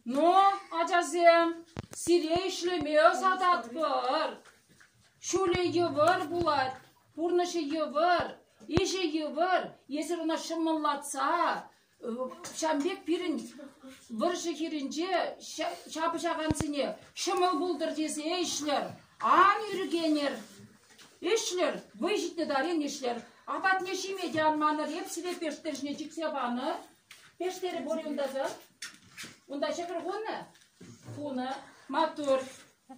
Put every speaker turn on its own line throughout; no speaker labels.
Ну, ачасем, сире ӗҫлеме ӑсататпӑр. Ҫулӗ йывӑр пулать, пурнӑҫӗ йывӑр, ӗҫӗ йывӑр. Эсир ӑна ҫӑмӑллатса, ҫавӑн пек пирӗн вӑрҫӑ хирӗнче ҫапӑҫакансене ҫӑмӑл пултӑр тесе ӗҫнӗр. Ан ӳркенӗр. Ӗҫлӗр, вӑй ҫитнӗ таран ӗҫлӗр. Апатне ҫиме те ан манӑр. Эп сире пештер ҫине чиксе панӑ. Пештере пур юнтаса. Унта ҫӑкӑр хунӑ? Хунӑ. Маттур.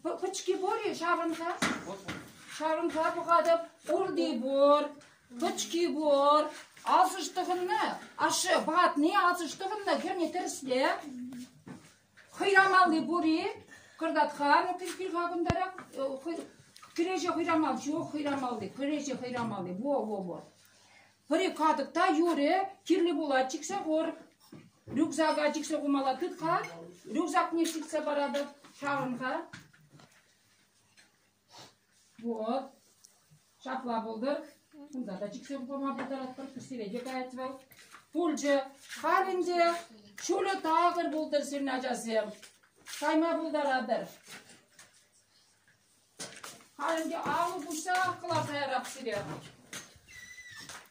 П- пӑчки пур-и? Ҫаврӑнса? Ҫаврӑнса пӑхатӑп. Урди пур. Пӑчки пур. Асӑш тӑхӑннӑ. Ашшӗ, ватни асӑш тӑхӑннӑ. Хӗрне тӗрӗсле. Хӑйрамалли пур-и? Кӑртат-ха, кӗрхи-ха кунтарах. Кӗреҫе хӑйрамал ҫук, хӑйрамалли. Кӗреҫе хӑйрамалли. Во, во, во. Пӗри катӑк та юрӗ, кирлӗ пулать, чиксе хур. Рюкзака чиксе хумалла тыт-ха. Рюкзакне ҫитсе паратӑп, чарӑн-ха. Вот, ҫапла пултӑр. Кунта та чиксе пама пултаратпӑр, сире те каять вӑл. Пулчӗ. Халь ӗнтӗ ҫулӗ такӑр пултӑр сирӗн ачасем. Кайма пултаратӑр. Халь ӗнтӗ алӑ пуҫсах кӑларса ярап сире.